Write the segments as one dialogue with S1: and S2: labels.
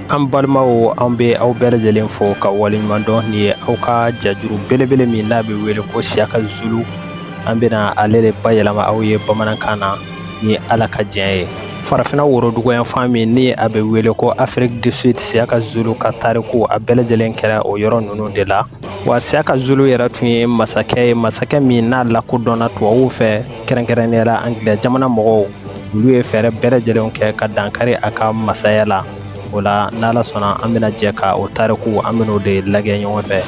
S1: An balimaw an bɛ aw bɛɛ lajɛlen fo ka waleɲuman dɔn nin ye aw ka jajuru belebele min n'a bɛ wele ko siyaka zulu an bɛna ale de bayɛlɛma aw ye bamanankan na ni ala ka diɲɛ ye farafinna woroduguyanfan min ni a bɛ wele ko afrique du sud siyaka zulu ka tariku a bɛɛ lajɛlen kɛra o yɔrɔ ninnu de la wa siyaka zulu yɛrɛ tun ye masakɛ ye masakɛ min n'a lakodɔnna tubabuw fɛ kɛrɛnkɛrɛnnenya la angilɛ jamana mɔgɔw olu ye fɛɛrɛ bɛɛ lajɛlen kɛ ka dankari a ka masaya la o la n'ala sɔnna an bɛna jɛ ka o tariku an bɛn'o de lagɛ ɲɔgɔn fɛ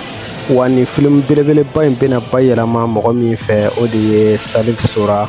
S1: wa nin filimu belebeleba in bɛna bayɛlɛma mɔgɔ min fɛ o de ye salif sora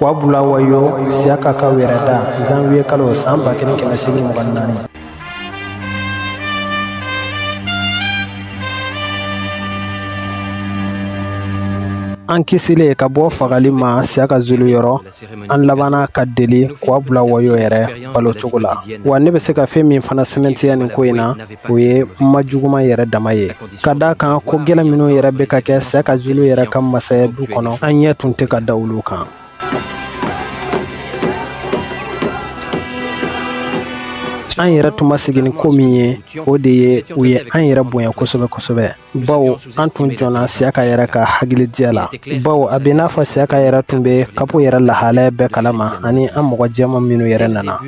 S1: Kwabulawayo siyaka ka wɛrɛ da zanwiye kalo san ba kelen kɛmɛ segin mugan naani an kisilen ka bɔ fagali ma siyaka zulu yɔrɔ an labanna ka deli kwabulawayo yɛrɛ balo cogo la wa ne bɛ se ka fɛn min fana sɛmɛntiya nin ko in na o ye ma juguman yɛrɛ dama ye ka d'a kan ko gɛlɛn minnu yɛrɛ bɛ ka kɛ siyaka zulu yɛrɛ ka masaya du kɔnɔ an ɲɛ tun tɛ ka da olu kan an yɛrɛ tun ma sigi ni ko min ye o de ye u ye an yɛrɛ bonya kosɛbɛ kosɛbɛ bawo an tun jɔnna siyaka yɛrɛ ka hakili diya la bawo a bɛ n'a fɔ siyaka yɛrɛ tun bɛ kapo yɛrɛ lahalaya bɛɛ kalama ani an mɔgɔ jɛman minnu yɛrɛ nana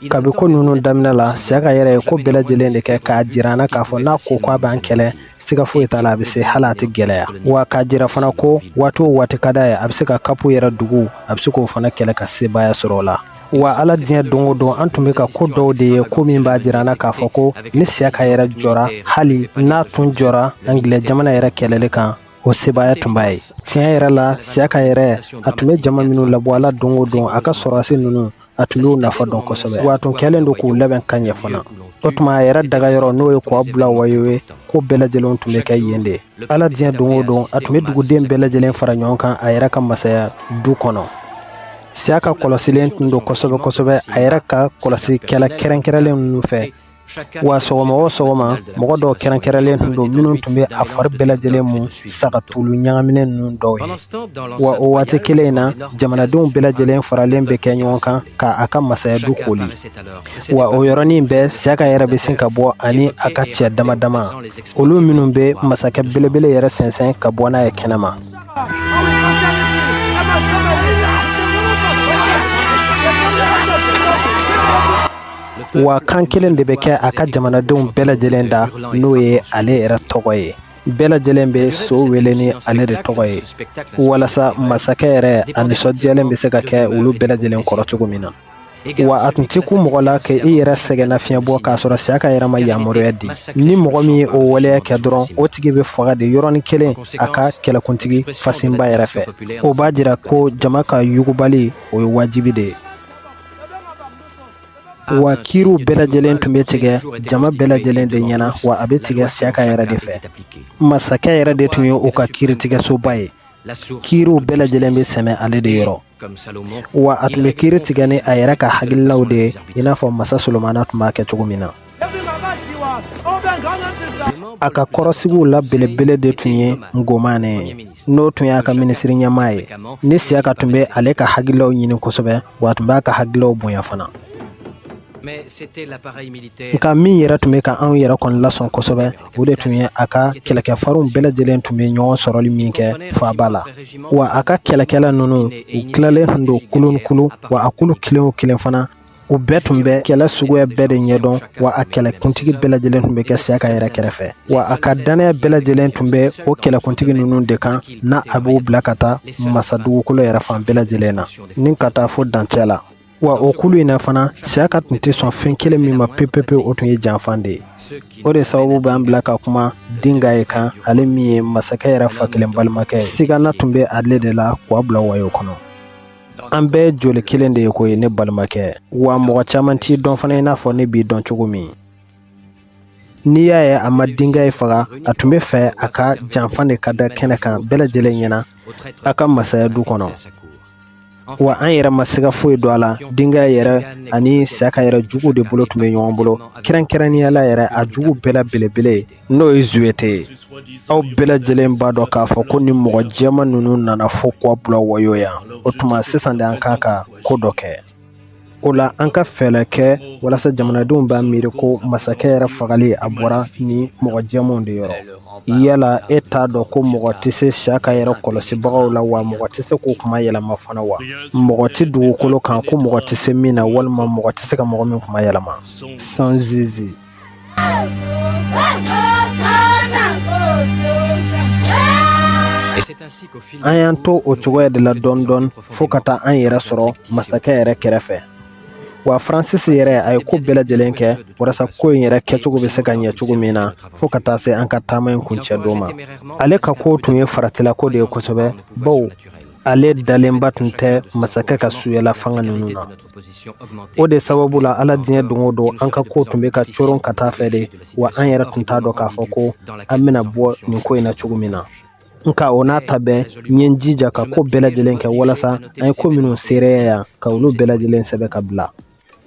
S1: kabi ko ninnu daminɛ la siyaka yɛrɛ ye ko bɛɛ lajɛlen de kɛ k'a jira an na k'a fɔ n'a ko k'a b'an kɛlɛ siga foyi t'a la a bɛ se hali a tɛ gɛlɛya wa k'a jira fana ko waati o waati ka d'a ye a bɛ se ka kapo yɛrɛ dugu a bɛ se k'o fana kɛlɛ ka sebaaya sɔrɔ o la wa ala diɲɛ don o don an tun bɛ ka ko dɔw de ye ko min b'a jira an na k'a fɔ ko ni siyaka yɛrɛ jɔra hali n'a tun jɔra angilɛ jamana yɛrɛ kɛlɛli kan o sebaaya tun b'a ye tiɲɛ yɛrɛ la siyaka yɛrɛ a tun bɛ jama minnu labɔ ala don o don a ka sɔrɔdasi ninnu a tun y'u nafa dɔn kosɛbɛ wa a tun kɛlen don k'u labɛn ka ɲɛ fana o tuma a yɛrɛ dagayɔrɔ n'o ye kwabulawayo ye ko bɛɛ lajɛlen tun bɛ kɛ yen de ala diɲɛ don o don a tun bɛ duguden bɛɛ lajɛlen fara ɲɔgɔn kan a yɛrɛ ka masaya du kɔnɔ siyaka kɔlɔsilen tun don kosɛbɛ kosɛbɛ a yɛrɛ ka kɔlɔsikɛla kɛrɛnkɛrɛnlen ninnu fɛ wa sɔgɔma o sɔgɔma mɔgɔ dɔw kɛrɛnkɛrɛnlen tun don minnu tun bɛ a fari bɛɛ lajɛlen mu sagatulu ɲagaminen ninnu dɔw ye wa o waati kelen in na jamanadenw bɛɛ lajɛlen faralen bɛ kɛ ɲɔgɔn kan ka a ka masaya du kooli wa o yɔrɔnin bɛɛ siyaka yɛrɛ bɛ sin ka bɔ ani a ka cɛ dama dama olu minnu bɛ masakɛ belebele yɛrɛ sɛnsɛn ka bɔ n'a ye kɛnɛma wa kan kelen de bɛ kɛ a ka jamanadenw bɛɛ lajɛlen da n'o ye ale yɛrɛ tɔgɔ ye bɛɛ lajɛlen bɛ so wele ni ale de tɔgɔ ye walasa masakɛ yɛrɛ a nisɔndiyalen bɛ se ka kɛ olu bɛɛ lajɛlen kɔrɔ cogo min na wa a tun tɛ kun mɔgɔ la ka i yɛrɛ sɛgɛnna fiɲɛ bɔ k'a sɔrɔ siyaka yɛrɛ ma yamaruya di ni mɔgɔ min ye o waleya kɛ dɔrɔn o tigi bɛ faga de yɔrɔnin kelen a ka kɛlɛkuntigi fasinba yɛrɛ fɛ o b'a jira ko jama ka yugubali o ye wajibi de ye wa kiriw bɛɛ lajɛlen tun bɛ tigɛ jama bɛɛ lajɛlen de ɲɛna wa a bɛ tigɛ siyaka yɛrɛ de fɛ masakɛ yɛrɛ de tun ye u ka kiritigɛsoba ye kiriw bɛɛ lajɛlen bɛ sɛmɛ ale de yɔrɔ wa a tun bɛ kiri tigɛ ni a yɛrɛ ka hakililaw de ye i n'a fɔ masa solomana tun b'a kɛ cogo min na a ka kɔrɔsigiw la belebele de tun ye ngomane ye n'o tun y'a ka minisiri ɲɛmaa ye ni siyaka tun bɛ ale ka hakililaw ɲini kosɛbɛ wa a tun b'a ka hakililaw bonya fana nka min yɛrɛ tun bɛ ka anw yɛrɛ kɔni lasɔn kosɛbɛ o de tun ye a ka kɛlɛkɛfarinw bɛɛ lajɛlen tun bɛ ɲɔgɔn sɔrɔli min kɛ faaba la wa a ka kɛlɛkɛla ninnu u tilalen tun don kulu kulu wa a kulu kelen o kelen fana u bɛɛ tun bɛ kɛlɛ suguya bɛɛ de ɲɛdɔn wa a kɛlɛkuntigi bɛɛ lajɛlen tun bɛ kɛ siyaka yɛrɛ kɛrɛfɛ wa a ka dannaya bɛɛ lajɛlen tun bɛ o kɛlɛkuntigi ninnu de kan n'a a b'u bila ka taa masa dugukolo yɛrɛ fan bɛɛ lajɛlen na ni ka taa fo dancɛ la wa o kulu in na fana siyaka tun tɛ sɔn fɛn kelen min ma pepepe o tun ye janfan de ye o de sababu b'an bila ka kuma dingayi kan ale min ye masakɛ yɛrɛ fa kelen balimakɛ ye sigana tun bɛ ale de la kwabulawayo kɔnɔ an bɛɛ joli kelen de ye ko ye ne balimakɛ wa mɔgɔ caman t'i dɔn fana i n'a fɔ ne b'i dɔn cogo min N'i y'a ye a ma dingayi faga a tun bɛ fɛ a ka janfa de ka da kɛnɛ kan bɛɛ lajɛlen ɲɛna a ka masaya du kɔnɔ wa an yɛrɛ ma se ka foyi dɔn a la dingayi yɛrɛ ani siyaka yɛrɛ juguw de bolo tun bɛ ɲɔgɔn bolo kɛrɛnkɛrɛnnenyala yɛrɛ a juguw bɛɛ la belebele n'o ye zuwete ye aw bɛɛ lajɛlen b'a dɔn k'a fɔ ko ni mɔgɔ jɛman ninnu nana fo kwabulawayo yan o tuma sisan de an kan ka ko dɔ kɛ o la an ka fɛɛlɛ kɛ walasa jamanadenw b'a miiri ko masakɛ yɛrɛ fagali a bɔra ni mɔgɔ jɛmanw de yɔrɔ yala e t'a dɔn ko mɔgɔ tɛ se siyaka yɛrɛ kɔlɔsibagaw la wa mɔgɔ tɛ se k'o kuma yɛlɛma fana wa mɔgɔ tɛ dugukolo kan ko mɔgɔ tɛ se min na walima mɔgɔ tɛ se ka mɔgɔ min kuma yɛlɛma sanzizi An y'an to o cogoya de la dɔɔni dɔɔni fo ka taa an yɛrɛ sɔrɔ masakɛ yɛrɛ kɛrɛfɛ wa francis yɛrɛ a ye ko bɛɛ lajɛlen kɛ walasa ko in yɛrɛ kɛcogo bɛ se ka ɲɛ cogo min na fo ka taa se an ka taama in kuncɛ don ma ale ka ko tun ye faratilako de ye kosɛbɛ bawo ale dalenba tun tɛ masakɛ ka suyala fanga ninnu na o de sababu la ala diɲɛ don o don an ka ko tun bɛ ka coron ka taa fɛ de wa an yɛrɛ tun t'a dɔn k'a fɔ ko an bɛna bɔ nin ko in na cogo min na nka o n'a ta bɛɛ n ye n jija ka ko bɛɛ lajɛlen kɛ walasa an ye ko minnu seereya yan ka olu bɛɛ lajɛlen sɛbɛn ka bila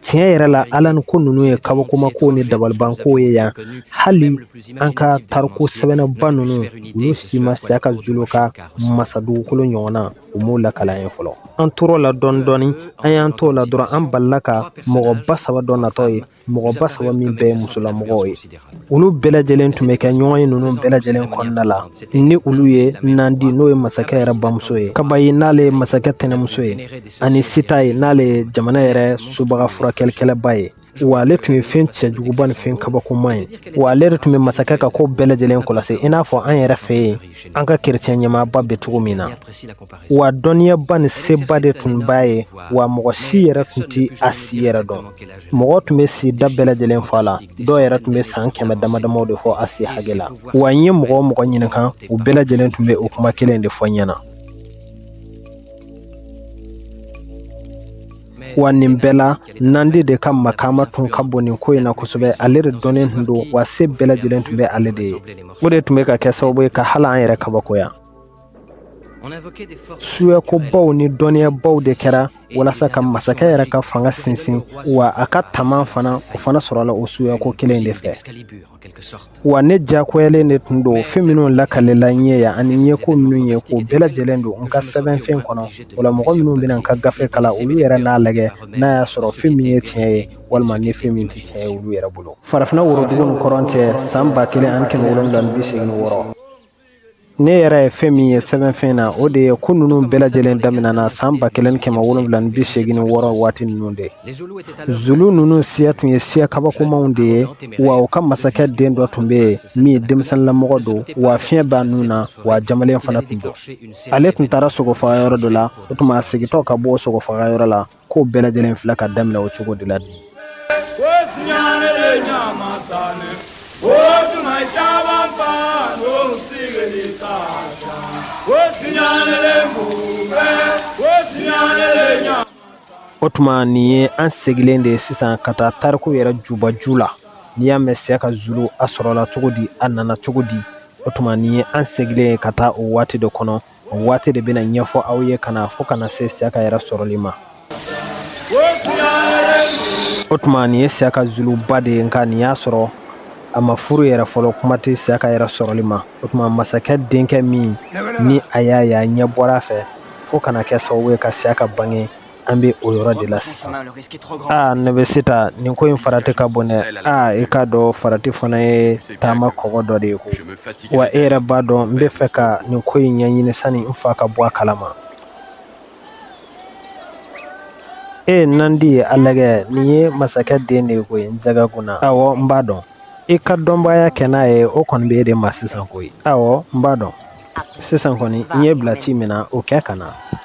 S1: tiɲɛ yɛrɛ la ala ni ko ninnu ye kabakomakow ni dabalibankow ye yan hali an ka tariku sɛbɛnnaba ninnu olu si ma siyaka zulu ka masa dugukolo ɲɔgɔn na u m'o lakal'an ye fɔlɔ an tor'o la dɔɔni dɔɔni an y'an t'o la dɔrɔn an balila ka mɔgɔba saba dɔ natɔ ye mɔgɔba saba min bɛɛ ye musolamɔgɔw ye olu bɛɛ lajɛlen tun bɛ kɛ ɲɔgɔn ye ninnu bɛɛ lajɛlen kɔnɔna la ni olu ye nandi n'o ye masakɛ yɛrɛ bamuso ye kabayi n'ale ye masakɛ tɛnɛmuso ye ani sitayi n'ale ye jamana yɛrɛ subaga furakɛlikɛlaba ye wa ale tun ye fɛn cɛjuguba ni fɛn kabakoma ye wa ale yɛrɛ tun bɛ masakɛ ka ko bɛɛ lajɛlen kɔlɔsi i n'a fɔ an yɛrɛ fɛ yen an ka kerecɛn ɲɛmaaba bɛ cogo min na wa dɔnniyaba ni seba de tun b'a ye wa mɔgɔ si yɛrɛ tun tɛ a si yɛrɛ dɔn mɔgɔ tun bɛ si da bɛɛ lajɛlen fɔ a la dɔw yɛrɛ tun bɛ san kɛmɛ damadamaw de fɔ a si hakɛ la wa n ye mɔgɔ o mɔgɔ ɲininka u bɛɛ lajɛlen tun bɛ o kuma kelen de fɔ n ɲɛna wa nin bɛɛ la nandi de ka makama tun ka bon nin ko in na kosɛbɛ ale de dɔnnen tun don wa se bɛɛ lajɛlen tun bɛ ale de ye o de tun bɛ ka kɛ sababu ye ka hali an yɛrɛ kabakoya suyakobaw ni dɔnniyabaw de kɛra walasa ka masakɛ yɛrɛ ka fanga sinsin wa a ka taman fana o fana sɔrɔla o suyako kelen de fɛ Wa ne diyagoyalen de tun don fɛn minnu lakalila n ye yan ani n ye ko minnu ye k'o bɛɛ lajɛlen don n ka sɛbɛnfɛn kɔnɔ o la mɔgɔ minnu bɛna n ka gafe kalan olu yɛrɛ n'a lajɛ n'a y'a sɔrɔ fɛn min ye tiɲɛ ye walima ni fɛn min tɛ tiɲɛ ye olu yɛrɛ bolo farafinna worodugu ni kɔrɔn cɛ san ba kelen ani kɛmɛ wolonwula ni bi seegin ni wɔɔrɔ ne yɛrɛ ye fɛn min ye sɛbɛnfɛn na o de ye ko ninnu bɛɛ lajɛlen daminɛna san ba kelen kɛmɛ wolonwula ni bi segin ni wɔɔrɔ waati ninnu de zulu ninnu siya tun ye siya kabakomaw de ye wa u ka masakɛ den dɔ tun bɛ yen min ye denmisɛnninlamɔgɔ don wa fiɲɛ b'a nun na wa jamalen fana tun don ale tun taara sogofagayɔrɔ dɔ la o tuma a segintɔ ka bɔ sogofagayɔrɔ la Ko bɛɛ lajɛlen filɛ ka daminɛ o cogo de la bi o tuma nin ye an seginnen de ye sisan ka taa tariku yɛrɛ jubaju la n'i y'a mɛn Siyaka Zulu a sɔrɔla cogo di a nana cogo di o tuma nin ye an seginnen ye ka taa o waati de kɔnɔ o waati de bɛna ɲɛfɔ aw ye ka na fo ka na se Siyaka yɛrɛ sɔrɔli ma o tuma nin ye Siyaka Zulu ba de ye nka nin y'a sɔrɔ a ma furu yɛrɛ fɔlɔ kuma tɛ Siyaka yɛrɛ sɔrɔli ma o tuma masakɛ denkɛ min ni a y'a ye a ɲɛ bɔra a fɛ fo ka na kɛ sababu ye ka Siyaka bange an bɛ o yɔrɔ de la sisan aa ne bɛ Sita nin ko in farati ka bon dɛ aa i k'a dɔn farati fana ye taama kɔgɔ dɔ de ye koyi wa e yɛrɛ b'a dɔn n bɛ fɛ ka nin ko in ɲɛɲini sani n fa ka bɔ a kalama ee Nandi ye a lagɛ nin ye masakɛ den de ye koyi Nsɛgɛkunna awɔ n b'a dɔn i ka dɔnbaya kɛ n'a ye o kɔni bɛ e de ma sisan koyi awɔ n b'a dɔn sisan kɔni n y'e bila ci min na o kɛ ka na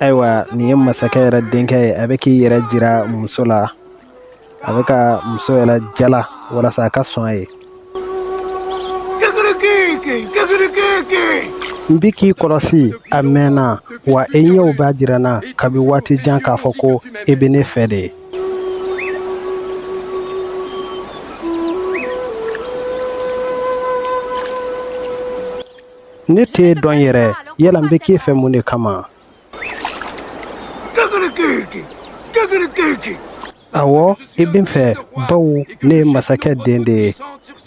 S2: ayiwa
S1: nin ye masakɛ yɛrɛ denkɛ ye a bɛ k'i yɛrɛ jira muso la a bɛ ka muso yɛrɛ jala walasa a ka sɔn a ye n bi k'i kɔlɔsi a mɛnna wa i ɲɛw b'a jira n na kabi waati jan k'a fɔ ko i bɛ ne fɛ de ye ne t'e dɔn yɛrɛ yala n bɛ k'e fɛ mun de kama awɔ i bɛ n fɛ bawo ne ye masakɛ den de ye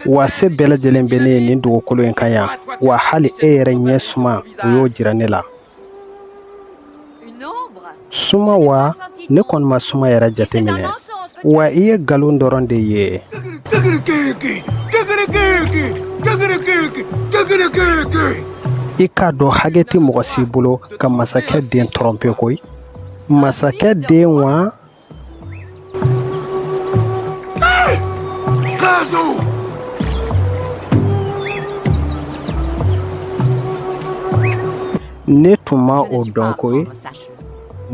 S1: wa se bɛɛ lajɛlen bɛ ne ye nin dugukolo in kan yan wa hali e yɛrɛ ɲɛ suma o y'o jira ne la suma wa ne kɔni ma suma yɛrɛ jateminɛ wa i ye nkalon dɔrɔn de ye i k'a dɔn hakɛ tɛ mɔgɔ si bolo ka masakɛ den tɔrɔnpe koyi masakɛ den wa Ne tun ma o dɔn koyi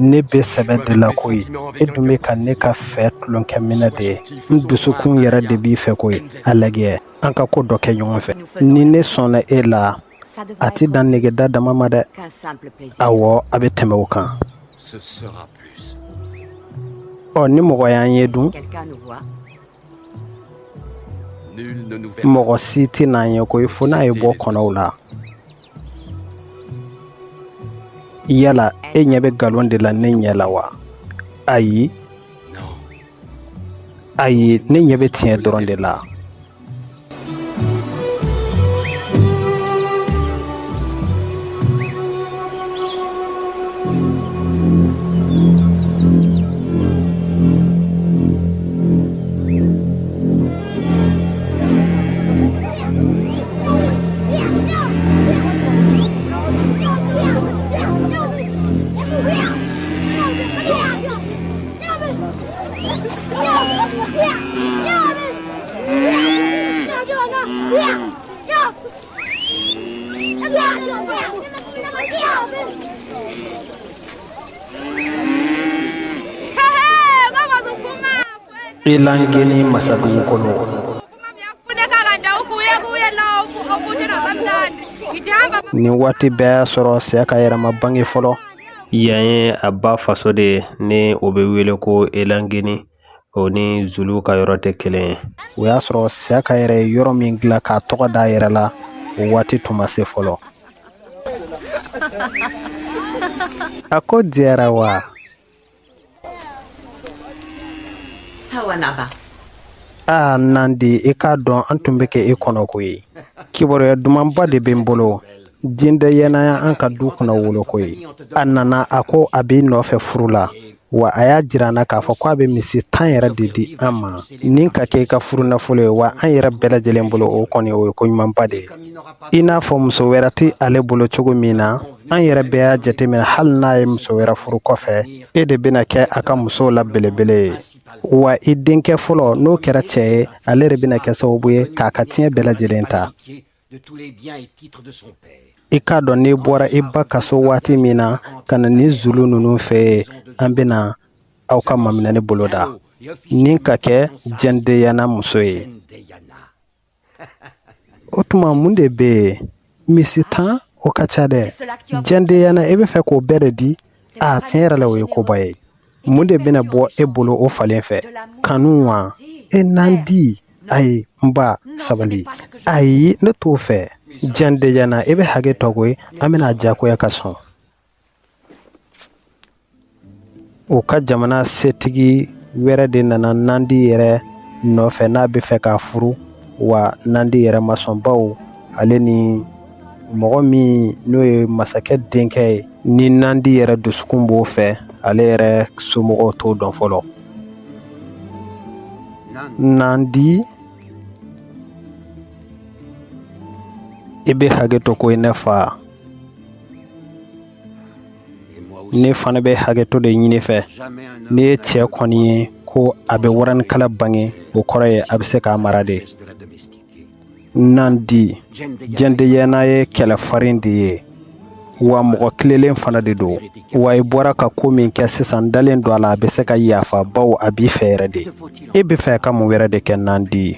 S1: ne bɛ sɛbɛ de la koyi e dun bɛ ka ne ka fɛ tulonkɛminɛn de ye n dusukun yɛrɛ de b'i fɛ koyi a lajɛ an ka ko dɔ kɛ ɲɔgɔn fɛ ni ne sɔnna e la a tɛ dan negeda dama ma dɛ awɔ a bɛ tɛmɛ o kan ɔ ni mɔgɔ y'an ye dun mɔgɔ si tɛ n'an ye koyi fo n'a ye bɔ kɔnɔw la yala e ɲɛ bɛ nkalon de la ne ɲɛ la wa ayi ayi ne ɲɛ bɛ tiɲɛ dɔrɔn de la Elangeni masadugu kɔnɔ Nin waati bɛɛ y'a sɔrɔ Siyaka yɛrɛ ma bange fɔlɔ yan ye a ba faso de ye ni o bɛ wele ko elangeni o ni zulu ka yɔrɔ tɛ kelen ye o y'a sɔrɔ Siyaka yɛrɛ ye yɔrɔ min dilan k'a tɔgɔ da a yɛrɛ la o waati tun ma se fɔlɔ a ko diyara wa aa Nandi i k'a dɔn an tun bɛ ka e kɔnɔ koyi kibaruya dumanba de bɛ n bolo jɛndeyana y'an ka du kunnawolo koyi a nana a ko a b'i nɔfɛ furu la wa a y'a jira an na k'a fɔ ko a bɛ misi tan yɛrɛ de di an ma nin ka kɛ i ka furu nafolo ye wa an yɛrɛ bɛɛ lajɛlen bolo o kɔni o ye ko ɲumanba de ye i n'a fɔ muso wɛrɛ tɛ ale bolo cogo min na an yɛrɛ bɛɛ y'a jateminɛ hali n'a ye muso wɛrɛ furu kɔfɛ e de bɛna kɛ a ka musow la belebele ye wa i denkɛ fɔlɔ n'o kɛra cɛ ye ale de bɛna kɛ sababu ye k'a ka tiɲɛ bɛɛ lajɛlen ta i k'a dɔn n'i bɔra i ba ka so waati min na ka na nin zulu ninnu fɛ yen an bɛna aw ka maminɛni boloda ni ka kɛ jɛndeyana muso ye o tuma mun de bɛ yen misi tan o ka ca dɛ jɛndeyana e bɛ fɛ k'o bɛɛ de di a tiɲɛ yɛrɛ la o ye koba ye mun de bɛna bɔ e bolo o falen fɛ kanu wa e Nandi ayi n ba sabali ayi ne t'o fɛ jɛndeyana e bɛ hakɛ to koyi an bɛna a diyagoya ka sɔn u ka jamana setigi wɛrɛ de nana nandi yɛrɛ nɔfɛ n'a bɛ fɛ k'a furu wa nandi yɛrɛ ma sɔn baw ale ni mɔgɔ min n'o ye masakɛ denkɛ ye ni nandi yɛrɛ dusukun b'o fɛ ale yɛrɛ somɔgɔw t'o dɔn fɔlɔ nandi i bɛ hakɛ to ko i ne fa ne fana bɛ hakɛto de ɲini i fɛ n'e ye cɛ kɔni ye ko a bɛ waranikala bange o kɔrɔ ye a bɛ se k'a mara de nandi jɛndeyɛna ye kɛlɛfarin de ye wa mɔgɔ tilelen fana de don wa i bɔra ka ko min kɛ sisan dalen don a la a bɛ se ka yafa baw a b'i fɛ yɛrɛ de e bɛ fɛ ka mun wɛrɛ de kɛ nandi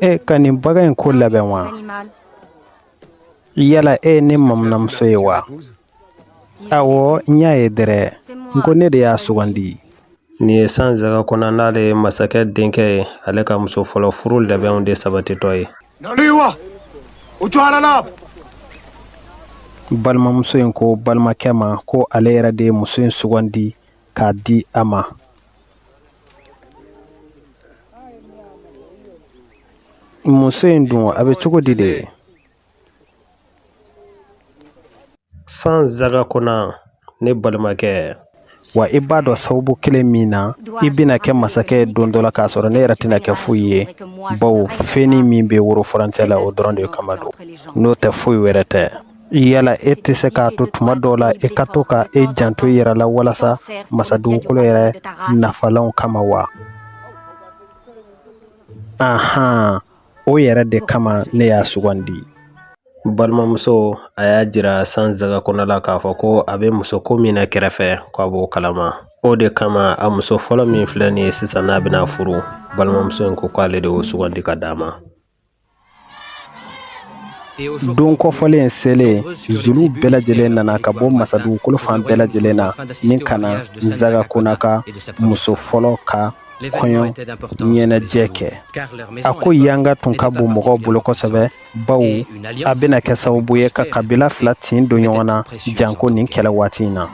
S1: e ka nin bagan in ko labɛn wa yala e ye ne mamunamuso ye wa awɔ n y'a ye dɛrɛ n ko ne de y'a sugandi nin ye sanzagakona n'ale ye masakɛ denkɛ ye ale ka muso fɔlɔ furu labɛnw de sabatitɔ ye balimamuso in ko balimakɛ ma ko ale yɛrɛ de ye muso in sugandi k'a di a ma Muso in dun a bɛ cogo di de sanzagakona ne balimakɛ wa i b'a dɔn sababu kelen min na i bɛna kɛ masakɛ don dɔ la k'a sɔrɔ ne yɛrɛ tɛna kɛ foyi ye baw fɛnnin min bɛ woro furancɛ la o dɔrɔn de kama don n'o tɛ foyi wɛrɛ tɛ yala e tɛ se k'a to tuma dɔw la e ka to ka e janto i yɛrɛ la walasa masadugukolo yɛrɛ nafalanw kama wa ahan o yɛrɛ de kama ne y'a sugandi balimamuso a y'a jira sanzagakona la k'a fɔ ko a bɛ muso ko min na kɛrɛfɛ ko a b'o kalama o de kama a muso fɔlɔ min filɛ nin ye sisan n'a bɛna a furu balimamuso in ko k'ale de y'o sugandi k'a d'a ma don kofɔlen selen zuluw bɛɛ lajɛlen nana ka bɔ masadugukolo fan bɛɛ lajɛlen na ni ka na zagakona ka muso fɔlɔ ka kɔɲɔ ɲɛnajɛ kɛ a ko yanga tun ka bon mɔgɔw bolo kosɛbɛ baw a bɛna kɛ sababu ye ka kabila fila tin don ɲɔgɔn na janko nin kɛlɛ waati in na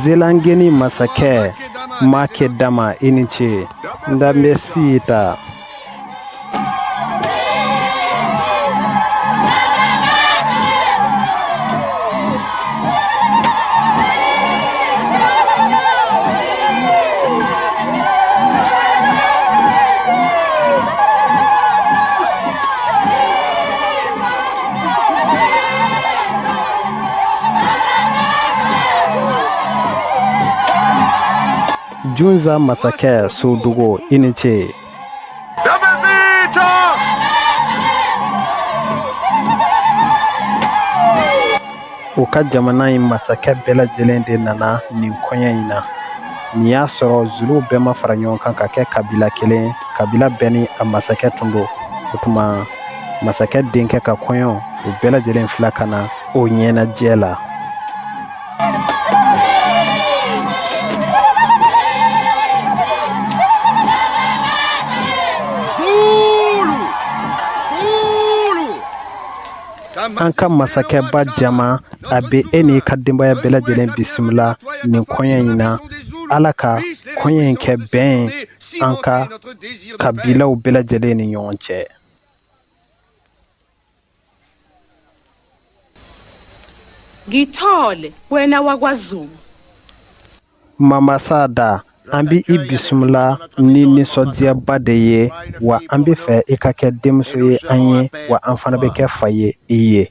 S1: zelangeni masakɛ makedama i ni ce ndabɛsita junza masakɛ sodugo i ni ce u ka jamana in masakɛ bɛɛ lajɛlen de nana nin kɔɲɔ in na nin y'a sɔrɔ zuluw bɛɛ ma fara ɲɔgɔn kan ka kɛ kabila kelen kabila bɛɛ ni a masakɛ tun don o tuma masakɛ denkɛ ka kɔɲɔ u bɛɛ lajɛlen fila ka na o ɲɛnajɛ la an ka masakɛba jama a bɛ e n'i ka denbaya bɛɛ lajɛlen bisimila nin kɔɲɔ in na ala ka kɔɲɔ in kɛ bɛn an ka kabilaw bɛɛ lajɛlen ni ɲɔgɔn cɛ
S3: ngithole wena wakwazulu
S1: mamasa da an bɛ i bisimila ni nisɔndiyaba de ye wa an bɛ fɛ i ka kɛ denmuso ye an ye wa an fana bɛ kɛ fa ye i ye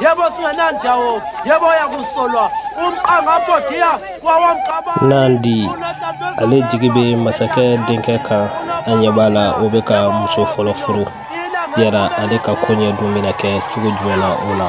S4: yebo singenandawo yebo yakusolwa umqangabodiya wawamgaba
S5: nandi ale jigi bɛ masakɛ denkɛ kan a ɲɛ b'a la o bɛ ka muso fɔlɔ furu yala ale ka koɲɛ dun bɛna kɛ cogo jumɛn na o la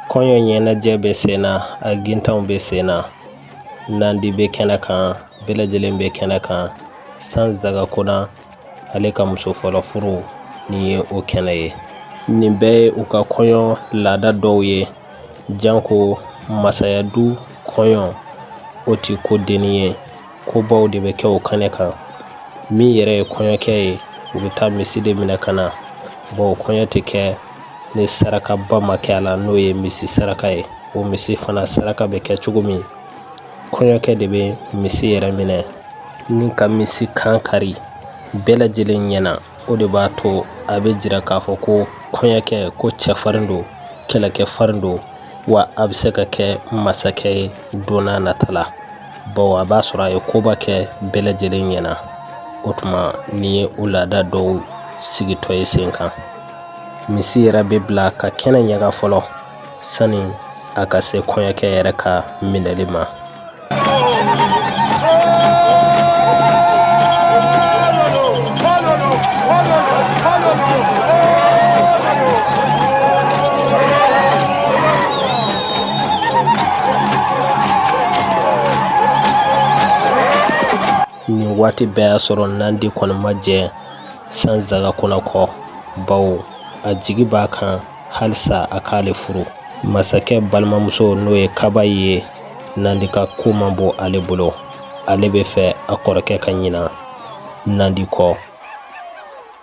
S5: Kɔɲɔ ɲɛnajɛ bɛ sen na a gintanw bɛ sen na nandi bɛ kɛnɛ kan bɛɛ lajɛlen bɛ kɛnɛ kan senzangakhona ale ka muso fɔlɔ furu nin ye o kɛnɛ ye nin bɛɛ ye u ka kɔɲɔ laada dɔw ye janko masaya du kɔɲɔ o tɛ ko dennin ye ko baw de bɛ kɛ o kɛnɛ kan min yɛrɛ ye kɔɲɔkɛ ye u bɛ taa misi de minɛ ka na bawo kɔɲɔ tɛ kɛ ni sarakaba ma kɛ a la n'o ye misi saraka ye o misi fana saraka bɛ kɛ cogo min kɔɲɔkɛ de bɛ misi yɛrɛ minɛ ni ka misi kan kari bɛɛ lajɛlen ɲɛna o de b'a to a bɛ jira k'a fɔ ko kɔɲɔkɛ ko cɛfarin don kɛlɛkɛfarin don wa a bɛ se ka kɛ masakɛ ye don nata la bawo a b'a sɔrɔ a ye koba kɛ bɛɛ lajɛlen ɲɛna o tuma nin ye o laada dɔw sigitɔ ye sen kan misi yɛrɛ bɛ bila ka kɛnɛ ɲaga fɔlɔ sani a ka se kɔɲɔkɛ yɛrɛ ka minɛli ma nin waati bɛɛ y'a sɔrɔ nandi kɔni ma jɛn sanzagakona kɔ bawo a jigi b'a kan halisa a k'ale furu masakɛ balimamuso n'o ye kabayi ye nandi ka ko man bon ale bolo ale bɛ fɛ a kɔrɔkɛ ka ɲina nandi kɔ